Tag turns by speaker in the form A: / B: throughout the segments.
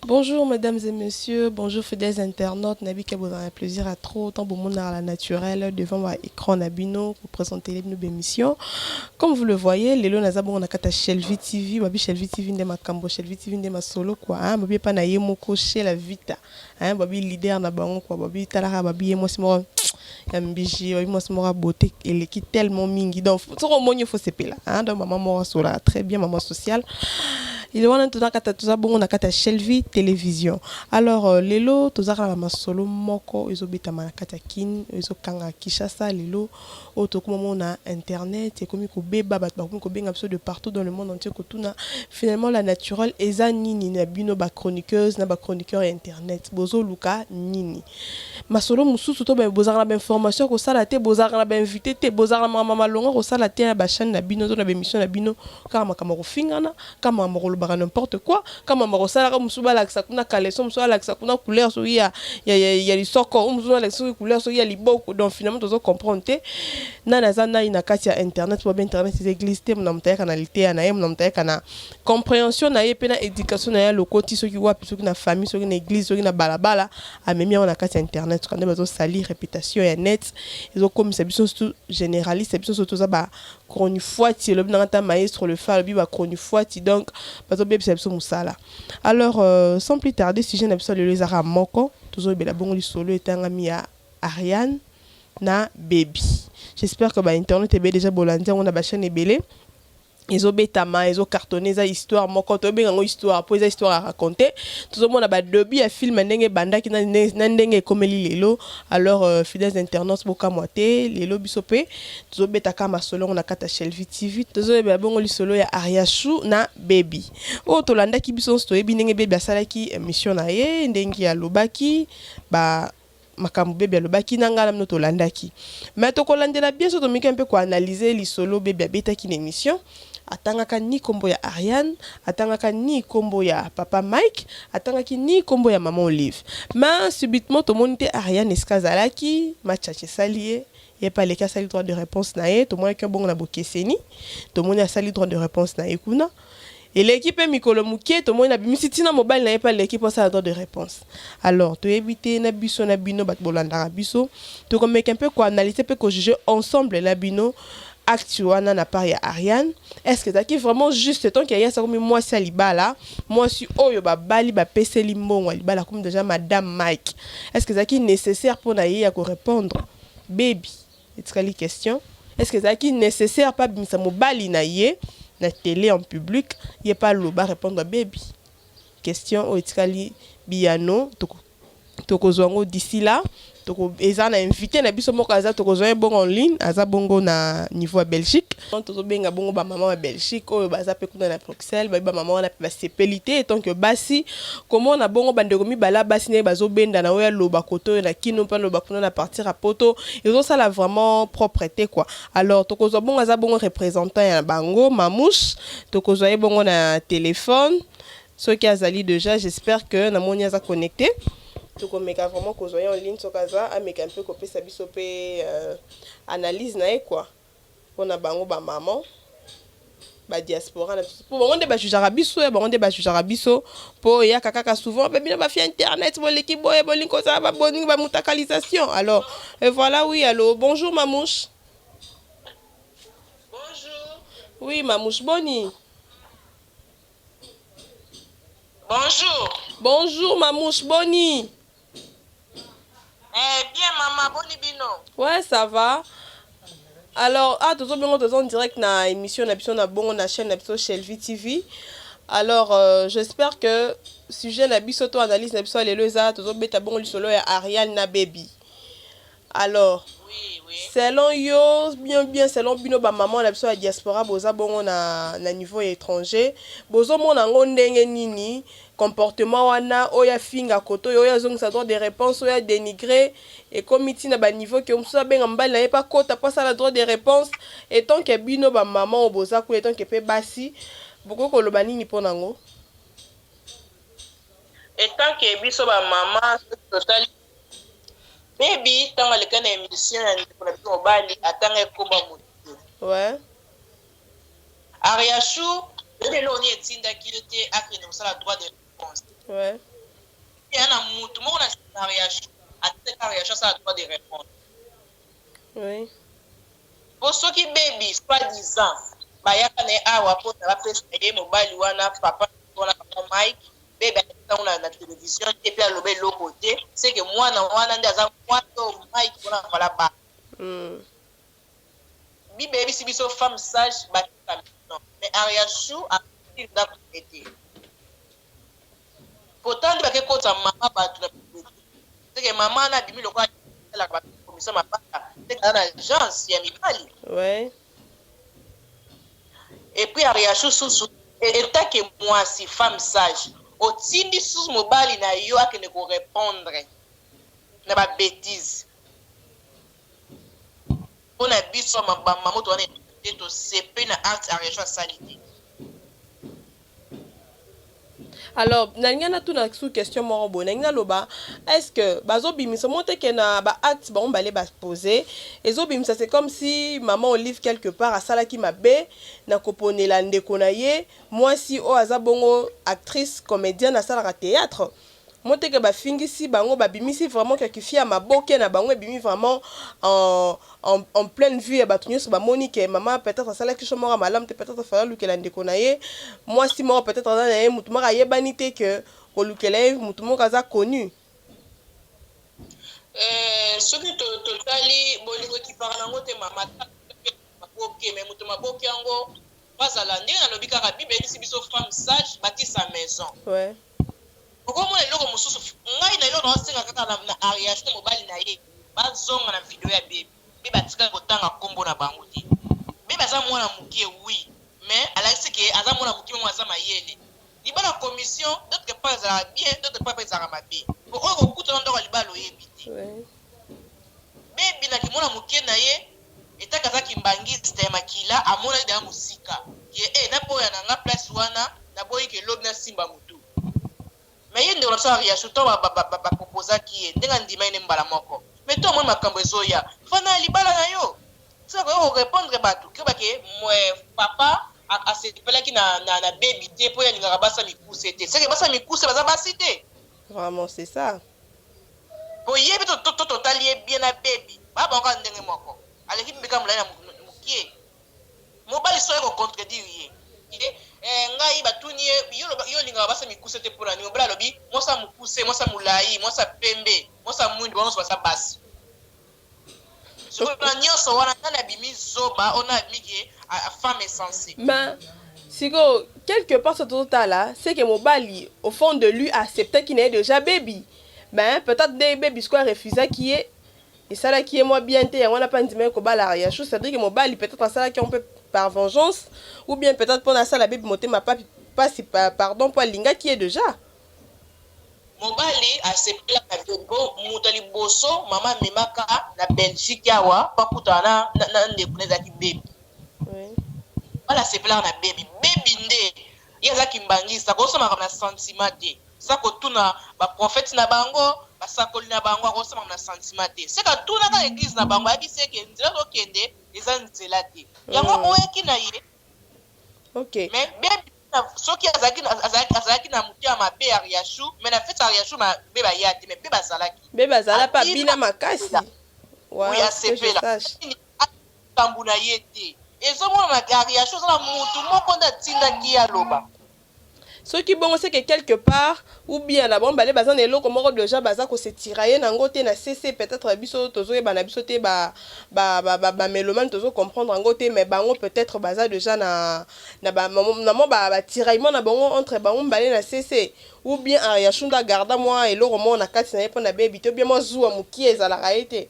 A: Bonjour mesdames et messieurs, bonjour fidèles internautes, Nabi vous un plaisir à trop, tant bon monde à la naturelle, devant ma écran Nabino, pour présenter les nouvelles émissions. Comme vous le voyez, les lonas abon na kata Shelvi TV, ma bi Shelvi TV nde ma kambo, Shelvi TV nde ma solo quoi, hein, ma bi pa na yemoko chez la Vita. hein ba bi leader na bango quoi ba bi talaka ba bi ye mwasi moko ya mbishi ba bi mwasi moko ya beauté eleki tellement mingi donc soki omoni yo faut sepela hein donc maman moko asolaka très bien maman sociale ile wana toza kata toza bongo na kati ya Shelvie television alors euh, lelo toza kaka na masolo moko ezobetama na kati ya kin ezokanga Kinshasa lelo Oyo tokomi komongo na internet ekomi kobeba bato bakomi kobenga biso de partout dans le monde entier kotuna finalement la naturelle eza nini na bino ba chroniqueuse na ba chroniqueur ya internet bozoluka nini masolo mosusu to bozalaka na ba information ya kosala te bozalaka na ba invité te bozalaka na makambo malonga kosala te na ba chaine na bino to na ba emission na bino kaka makambo ya kofingana Kama moko olobaka n'importe quoi kama moko osalaka oyo mosusu balakisa kuna caleçon oyo mosusu alakisa kuna couleur soki ya, ya, ya, ya lisoko oyo mosusu alakisa soki couleur soki ya liboko donc finalement tozo comprendre te nani aza nani na kati ya internet po internet eza eglise te mona moto ayaka na liteya na ye mona moto ayaka na comprehension na ye pe na education na ye alokoti soki wapi soki na famille soki na eglise soki na balabala amemi yango na kati ya internet kande bazo salir reputation ya net ezokomisa biso surtout generaliste biso surtout toza ba chronifuati elobi nanga ta maestro le fa alobi ba chronifuati donc bazo bebisa biso musala alors euh, sans plus tarder sujet na biso lelo ezaka moko tozo bela bongo lisolo etangami ya Ariane na baby j'espère que ba internet ebe déjà bolandi yango na ba chaîne ebele ezo betama ezo cartonne eza histoire moko to benga ngo histoire po eza histoire à raconter tozo mona ba debut ya film ndenge bandaki na ndenge ekomeli lelo alors euh, fidèles internautes bokamwa te lelo biso pe Tozo beta ka masolo yango na kati ya Shelvie TV. Tozo yebela bongo lisolo ya Ariachou na Baby. Oyo to landaki biso nionso toyebi ndenge Baby asalaki emission na ye, ndenge alobaki ba makambo Baby alobaki na nga na bino to landaki. Mais toko landela bien soki tomeki un peu ko analyser lisolo Baby abetaki na emission. Atangaka ni kombo ya Ariane, atangaka ni kombo ya papa Mike, atangaki ni kombo ya maman Olive. Mais subitement tomoni te Ariane esika azalaki, match-atch esali ye. Ye pe aleki asali droit de reponse na ye tomonaki yo bongo na bokeseni tomoni asali droit de reponse na ye kuna eleki pe mikolo mukie tomoni abimisi ti na mobali na ye pe aleki po asala droit de reponse alors toyebi te na biso na bino batu bolandaka biso toko meka un peu ko analyser pe ko juger ensemble na bino acte wana na part ya Ariane est ce que ezalaki vraiment juste tant que Ariane akomi mwasi ya libala mwasi oyo ba bali ba peseli mbongo ya libala akomi dejà madame Mike est ce que ezalaki necessaire pona ye ya ko repondre Baby etikali question est ce que ezalaki necessaire pe abimisa mobali na ye na tele en public ye pe aloba repondre ya baby? Question oyo etikali biyano toko tokozua yango d'ici là toko eza na invite na biso moko aza tokozua ye bongo en ligne aza bongo na niveau ya Belgique donc tozo benga bongo ba maman ya Belgique oyo baza pe kuna na Sel bayebi ba mama wana pe ba sepeli te etant que basi komona bongo ba ndeko mibale ya basi ndenge bazo bendana oyo aloba kote oyo na kin oyo pe aloba kuna na partir ya poto ezo sala vraiment propre te quoi alors tokozua bongo aza bongo representant ya bango mamouche tokozua ye bongo na telephone soki azali deja j'espère que na moni aza connecte tokomeka vraiment kozua ye en ligne soki aza ameka mpe kopesa biso mpe euh, analyse na ye quoi Pona bango ba maman ba diaspora na biso po bango nde ba jugeaka biso ya bango nde ba jugeaka biso po eyaka kaka souvent pe bino ba fille internet boleki boye bolingi kozala ba bolingi ba mutakalisation alors et voilà oui allo bonjour mamouche Oui,
B: Mamouche
A: Boni. Bonjour. Bonjour, Mamouche Boni. Eh
B: bien maman boni bino. Ouais ça va.
A: Alors ah tozo bengo tozo en direct na émission na biso na bongo na chaîne na biso Shelvie TV. Alors euh, j'espère que sujet na biso to analyse na biso lelo eza tozo beta bongo lisolo ya Ariane na baby. Alors
B: selon yo
A: bien bien selon bino ba maman na biso ya diaspora boza bongo na na niveau ya etranger bozo mona ngo ndenge nini comportement wana oyo afinga koto oyo oyo azongisa droit de reponse oyo a denigre ekomi ti na ba niveau ke mosusu abenga mobali na ye pe akota po asala droit de reponse etant ke bino ba maman oyo boza kuna etant ke pe basi bokoki koloba nini po na ngo
B: etant ke biso ba maman soki totali Baby tango aleka na emission ya ndeko na biso mobali atanga ye kombo ya moto te. Ouais. Ariachou oyebi eloko nini etindaki ye te akende kosala droit de réponse. Ouais. Eya na moto moko na sima na Ariachou atindaki Ariachou asala droit de réponse. Oui. Po soki baby soit disant bayaka na ye awa po na bapesa ye mobali wana papa wana papa Mike bebe ayebisa yango na, na television te mpe aloba eloko te seke mwana wana nde aza mwana oyo mike mpona avala ba mm. bible eyebisi biso femme sage batika mino mais ariachou atii ndako te te pourtant nde bake kotisa mama bato na seke mama wana abimi lokola alaka bato komisa mabaka seke aza na agence ya mibali ouais. Et puis Ariachou susu et etant que muasi femme sage otindi susu mobali na yo akende ko repondre na ba betises pona biso ba maman to wana tosepeli na acte Ariachou asali te.
A: Alors nalingi natuna sous question moko boye nalingi naloba est ce que bazobimisa mo te ke na ba acte bango mibale ba pose ezobimisa c'est comme si maman olive quelque part asalaki mabe na koponela ndeko na ye mwasi oyo aza bongo actrice comedienne asalaka theatre Moteke ba fingisi bango ba bimisi vraiment kia kifiaa maboke na bango ebimi vraiment en en pleine vue ya batu nioso ba moni ke maman peut etre asalaki choix moko ya malamu te peut etre fallait alukela ndeko na ye mwasi moko peut etre aza na ye mutu moko ayebani te que kolukela ye mutu moko aza connu Soki
B: totali bolingo ekipaka na yango te mama. Maboke mais moto maboke yango bazala ndenge na lobi kaka bible eyebisi biso femme sage bati sa maison
A: okomona
B: eloko mosusu ngai na eloko na osenga kaka na na ariage te mobali na ye bazonga na video ya bebe bebe atikali kotanga nkombo na bango te bebe aza mwana moke wi mais alakisi ke aza mwana moke memo aza mayele libala commission d'autre part ezalaka bien d'autre part mpe ezalaka mabe po oyo kokutana ndoko ya libala oyebi te bebe na kimwana moke na ye Etaka aza kimbanguiste ya makila amonaki dejà musika que eh na boya na nga place wana na boyi que lobi na simba mutu mais ye ndeko na biso ariachou tango ba proposaki ye ndenge andimaki nde mbala moko mais to omoni makambu ezoya fanda na libala na yo soki akoki ko repondre batu keba que papa asepelaki na na baby te po ye alingaka basi ya mikuse te ce que basi ya mikuse baza basi te vraiment c'est
A: ça.
B: Boyebi to to totali ye bien na baby ba bango kaka ndenge moko aleki mbeka mulayi na mukie mobali soki aye ko contredire ye ke eh ngai batuni ye yo oloba yo olingaka basi ya mikuse te pona nini mobali alobi mwasi ya mukuse mwasi ya mulayi mwasi ya pembe mwasi ya muindu bango nionso baza basi Sikoyo na nionso wana nani abimi zoba oyo nani abimi ke femme est sensible? Mais
A: sikoyo quelque part soki tozo tala c'est que mobali au fond de lui a acceptaki naye dejà baby mais peut etre nde baby sikoyo a refusaki ye esalaki ye mwa bien te yango wana pe andimaki kobala Ariachou c'est à dire que mobali peut etre asalaki yango pe par vengeance ou bien peut etre pona asala baby motema pasi pardon po alingaki ye dejà. Mobali
B: asepelaka te po mutu ya liboso mama amemaka na Belgique awa po akutana na na ndeko naye ezalaki baby mobali asepelaka na baby baby nde ye aza kimbanguiste akosala makambo na sentiment te sa kotuna ba prophete na bango basakoli na bango akosala makambo na sentiment te seke atunaka eglise na bango ayebiseke nzela azokende eza nzela te yango oyaki na ye ok
A: mais bebe
B: soki azalaki azalaki na motema mabe ariachou mais na fete ariachou bebe aya te mais bebe azalaki bebe azala pe abina
A: makasi
B: likambo na ye te ezomonana ariachou aza na mutu moko nde atindaki ye aloba Soki
A: bongo ce que quelque part ou bien na bango mibale baza na eloko moko dejà baza ko se tirailler na ngo te na se se peut etre biso tozo yeba na biso te ba ba ba melomane tozo comprendre na ngo te mais bango peut etre baza dejà na na ba na mwa ba ba tiraillement na bango entre bango mibale na se se ou bien Ariachou nde a garda mwa eloko moko na kati na ye pona baby te ou bien mwa zuwa mukie ezalaka ye te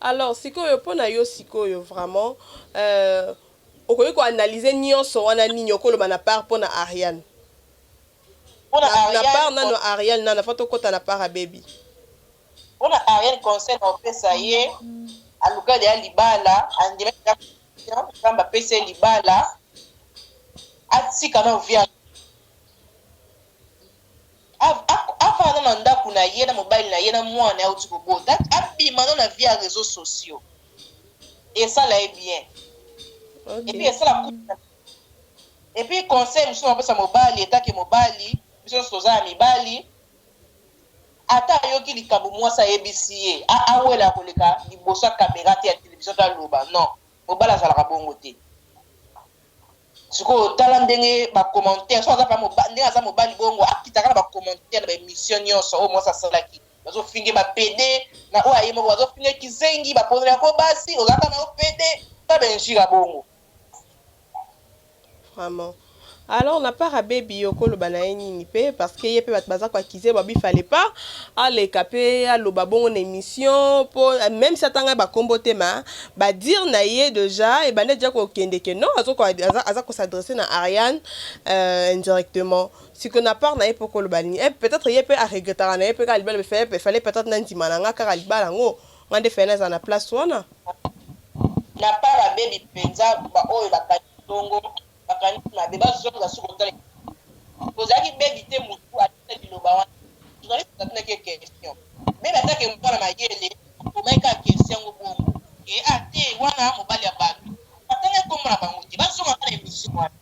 A: Alors sikoyo pona yo sikoyo vraiment euh okoki ko analyser nionso wana nini oko loba na part pona Ariane? Pona Ariane na part nanu Ariane nanu avant to kota na part ya baby. Pona
B: Ariane conseil na opesa ye aluka deja libala andima deja confiance nzambe apesa ye libala atika nanu vie ya Afanda nanu na ndaku na ye na mobali na ye na muana na ye awuti kobota abima nanu na vie ya reseaux sociaux esala ye bien et puis esala couple na et puis conseil mususu nako pesa mobali etant que mobali biso nionso toza ya mibali ata ayoki likambu muasi ayebisi ye awela koleka liboso ya camera te ya television to aloba non mobali azalaka bongo te. Sikoyo tala ndenge ba commentaires soki aza mobali ndenge aza mobali bongo akitaka na ba commentaires na ba emissions nyonso oyo mwasi asalaki bazofinge ba pede na oyo aye moko bazofinge kizengi bapozela yango basi ozalaka na yo pede ta benjira bongo
A: vraiment alors na part abebi yo koloba na ye nini mpe parce que ye mpe bato baza koakize babi fale pas aleka mpe aloba bongo na émission mpo même si atanga bakombo te ma Ba dire na ye dejà ebanda dejà ko kende que non azo aza ko s'adresser na Ariane euh, indirectement. Siko na part na ye poko loba nini? Eh peut être ye pe a regrettaka na ye pe kaka libala il fallait peut être na ndima na nga kaka libala yango. Nga nde fallait na zala na place wana.
B: Na part abebi penza ba oyo ba kangi bongo. bakanisi mabe bazonga suka otala ekipe ozalaki bebi te mutu atuna liloba wana journaliste atunaki ye question bebi ataka ye mwana mayele akomaki kaka question yango bongo ke a te wana mobali ya batu batangaki kombo na bango te bazonga kaka na emission wana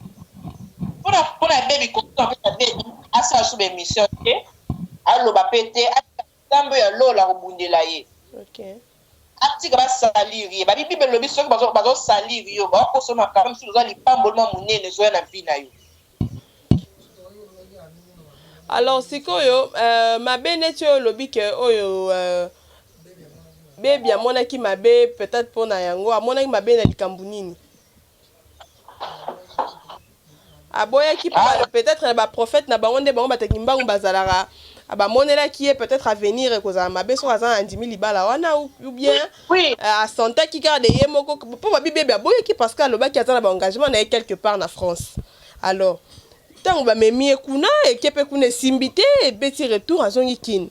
B: pona pona bebi kosuka pona bebi asala suba emission te aloba pe te atika Nzambe ya lola akobundela ye. Okay. Atika ba salir ye. Babi Bible elobi soki bazo bazo salir yo, ba koso makambo misusu oza lipamboli mwa munene ezoya na vie na yo.
A: Alors sikoyo euh, mabe neti oyo olobi ke oyo euh, bebi amonaki mabe peut-être mpo na yango amonaki mabe na likambo nini? aboyaki po ba peut-etre ba prophète na bango nde bango bata kimbangu bazalaka ba monelaki ye peut-etre avenir ekozala mabe soki aza andimi libala wana ou bien euh, asentaki kaka de ye moko po ba bibebe aboyaki parce que alobaki aza na ba engagement na ye quelque part na France alors ntango bamemi ye kuna eke mpe kuna esimbi te ebeti retour azongi kin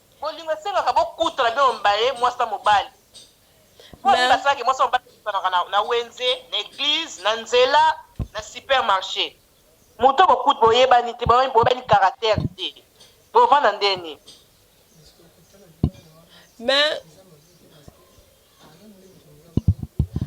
B: Bolingo esengaka bokutana bino mibale mwasi na mobali. Mpo na nini basalaka ke mwasi na mobali bakutanaka na wenze, na eglise, na nzela, na supermarche? Moto oyo boyebani te, boyebani caractère te, bovanda ndeni? Mais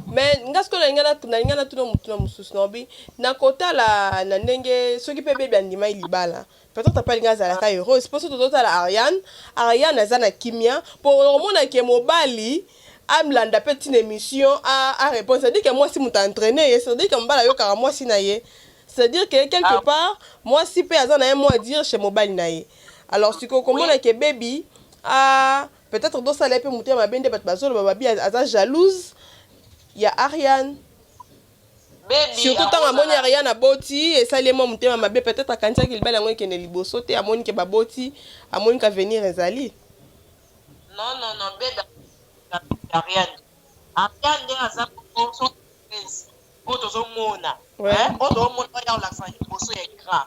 A: mais nga sikoyo nalinga na- nalinga natuna motuna mosusu naobi na kotala na ndenge soki mpe bebi andimai libala peut-être mpe alinga azalaka heureuse mpo soki tozotala ariane ariane aza na kimia mpo okomona ke mobali amlanda mpe ntina émission a- arépondre c'est-à-dire ke mwasi moto aentraine ye c'est-à-dire ke mobali ayokaka mwasi na ye c'est-à-dire ke quelque Ah. part mwasi mpe aza na ye mwa dire chez mobali na ye alors sikoyo okomona ke bebi a- Peut etre do sala ye pe motema mabe nde batu bazo loba babi aza jalouse ya Ariane surtout tango amoni Ariane aboti esali ye mwa motema mabe peut etre akanisaki libala yango ekende liboso te amoni ke baboti amoni ke avenir ezali Non non
B: non bebe Ariane Ariane nde aza po tozo mona oyo tozo mona oyo azo lakisa liboso ya ecran.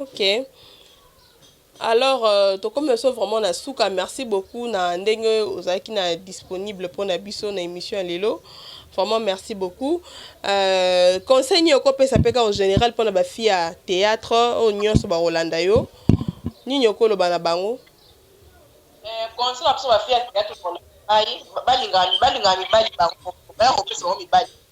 A: ok alors euh, tokomi oso vraiment na suka merci beaucoup na ndenge ozalaki na disponible mpo na biso na émission ya lelo vraiment merci beaucoup euh, conseil nini okopesa mpe kaka général mpo na bafille ya théâtre oyo nyonso bakolanda yo nini okoloba na bango euh,
B: conseil na biso bafille ya théâtre balinga mibali bango baya kopesa bango mibali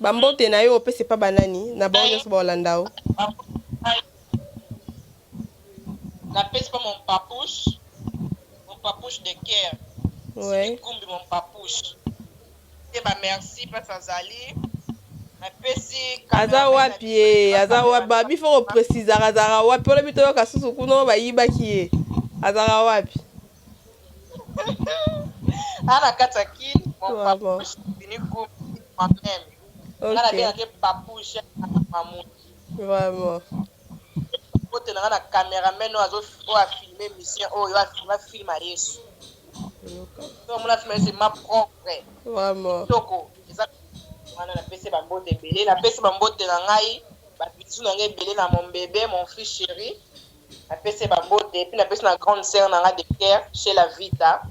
A: Ba mbote na yo opesi epa ba nani na bango nyonso baolanda yo?
B: Napesi pa mon papouche, mon papouche de coeur Sylvie Kumbi
A: mon
B: papouche te ba merci place azali napesi Aza wapi ye?
A: Aza wapi? Ba bi faut ko precisaka azalaka wapi? Olobi toyoka susu kuna oyo bayibaki ye azalaka wapi?
B: Ana kati ya kin mon Toi, papa moi. fini groupe moi même nga na Ok. benga ke papou je mamu
A: Vraiment.
B: kotela nga na cameraman oyo azo oyo a filme mission oyo a filme a film ya yesu Yoka. to omona film ya yesu ma propre Vraiment. kitoko
A: eza
B: wana napesi bambote ebele napesi bambote na ngai babisu na ngai ebele na mombebe mon fils chéri Na pesi ye ba mbote puis na pesi na grande sœur na nga de cœur Shela Vita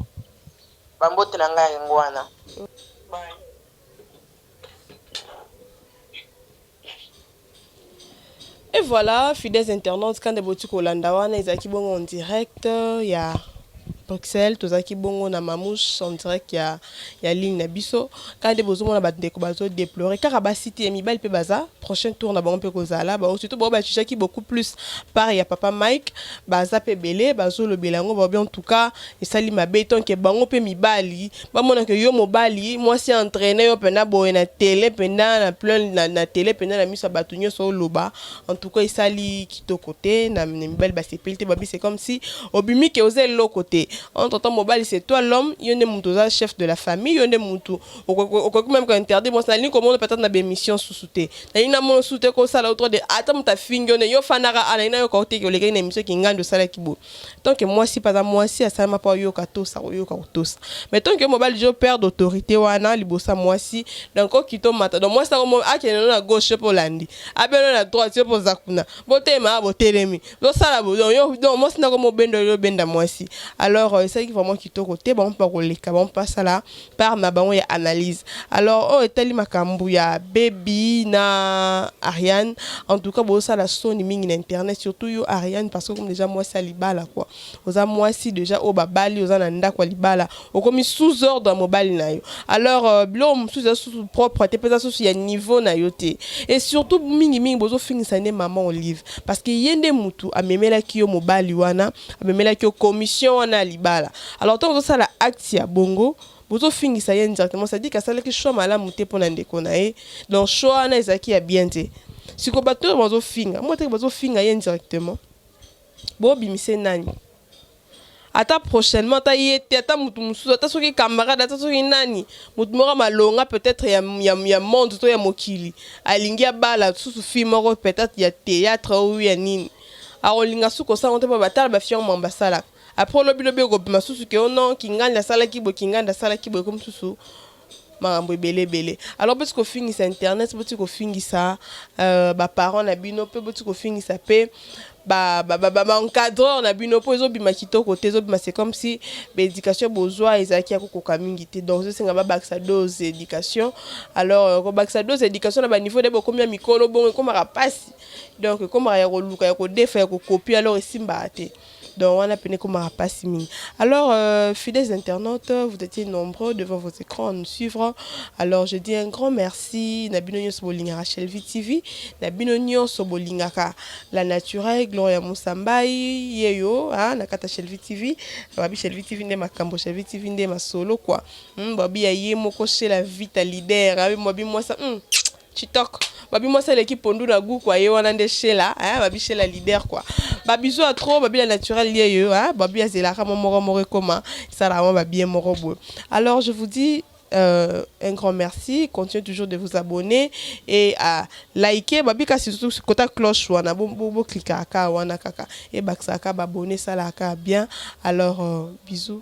B: ba mbote na nga yango wana.
A: Et voilà, fidèles internautes, quand debotu kolanda wana ezalaki bongo en direct ya Bruxelles, tozalaki bongo na Mamouche en direct ya ya ligne na biso kaka nde bozomona bandeko bazo deplore kaka basi te mibali mpe baza prochain tour na bango mpe kozala bao surtout bao bajujaki beaucoup plus part ya papa mike baza mpe ebele bazolobela yango baobi en tout cas esali mabe tonke bango mpe mibali bamonaka yo mobali mwasi entraine yo mpena boye na tele mpena na plein na, na tele mpena na miso ya bato nyonso oloba En tout cas esali kitoko te na mibali basepeli te babi c'est comme si obimi ke oza eloko te entre temps mobali c'est toi l'homme yo nde mutu oza chef de la famille yo nde mutu okoki même ko interdire bon nalingi komona peut-être na bémission susu te nalingi namona susu te kosala yo trop de ata mutu afingi yo nde yo fandaka a nalingi nayoka yo te olekaki na émission kingandi osalaki boye tant que mwasi mpe aza mwasi asalama mpo ayoka atosa akoyoka kotosa mais tant que mobali jo père d'autorité wana liboso ya mwasi donc okita omata donc mwasi yango akende no na gauche yo mpe olandi abeno na droite yo mpe oza kuna botelema ya botelemi bosala donc mwasi ndako mobendo yo obenda mwasi alors euh, esalaki vraiment kitoko te bango mpe bakoleka bango mpe basala part na bango ya analyse alors oyo etali makambu ya baby na Ariane en tout cas bo sala soni mingi na internet surtout yo Ariane parce que comme déjà moi ça libala quoi oza moi si déjà oyo babali oza na ndako libala okomi sous ordre mobali na yo alors euh, bilo mususu eza susu propre te peza susu ya niveau na yo te et surtout mingi mingi bozo fingisa ne maman olive parce que yende mutu amemela ki yo mobali wana amemela ki yo commission wana libala Alors tant ozo sala acte ya bongo bozo fingisa ye indirectement ça dit que asalaki choix malamu te pona ndeko na ye donc choix wana ezalaki ya bien te siko bato oyo bazo finga moteke bazo finga ye indirectement bobimise nani ata prochainement ata ye te ata motu mosusu ata soki camarade ata soki nani motu moko malonga peut-être ya, ya, ya monde to ya mokili alingi abala susu fille moko peut-être ya théâtre ou ya nini akolinga susu kosala ngo te mpo batala bafille yango mambo basalaka Après olobi lobi okobima susu ke oh non kingandi asalaki boye kingandi asalaki boye ekomi susu makambo ebele ebele alors boti kofingisa internet boti kofingisa euh, baparent na bino mpe boti kofingisa mpe baencadreur na bino mpo ezobima kitoko te ezobima c'est comme si baéducation bozwa ezalaki ya kokoka mingi te donc ezosenga babakisa dose éducation alors euh, kobakisa dose éducation na baniveau de bokomi ya mikolo bongo ekomaka mpasi donc ekomaka ya koluka ya kodefa ya kokopie alors esimbaka te Donc wana pene komaka pasi mingi. Alors euh, fidèles internautes, vous étiez nombreux devant vos écrans à nous suivre. Alors je dis un grand merci na bino nyonso bolingaka Shelvi TV, na bino nyonso bolingaka la naturelle Gloria Musambai yeyo hein, na kata Shelvi TV, babi Shelvi TV nde makambo Shelvi TV nde masolo quoi. Hmm, babi ya ye moko chez la vita leader, abi babi mwasa hmm. Chitoko. Babi mwasi aleki pondu na goût quoi, ye wana nde Sheila, hein, babi Sheila leader quoi. Babi zo trop, babi la naturel lieu yo, hein, babi azelaka mo moro moro ekoma, sala mo babi moro boy. Alors je vous dis euh, un grand merci. Continuez toujours de vous abonner et à liker. Babi kasi surtout sur kota cloche wana bo bo, bo cliquer aka wana kaka et baksa aka abonner sala aka bien. Alors euh, bisous.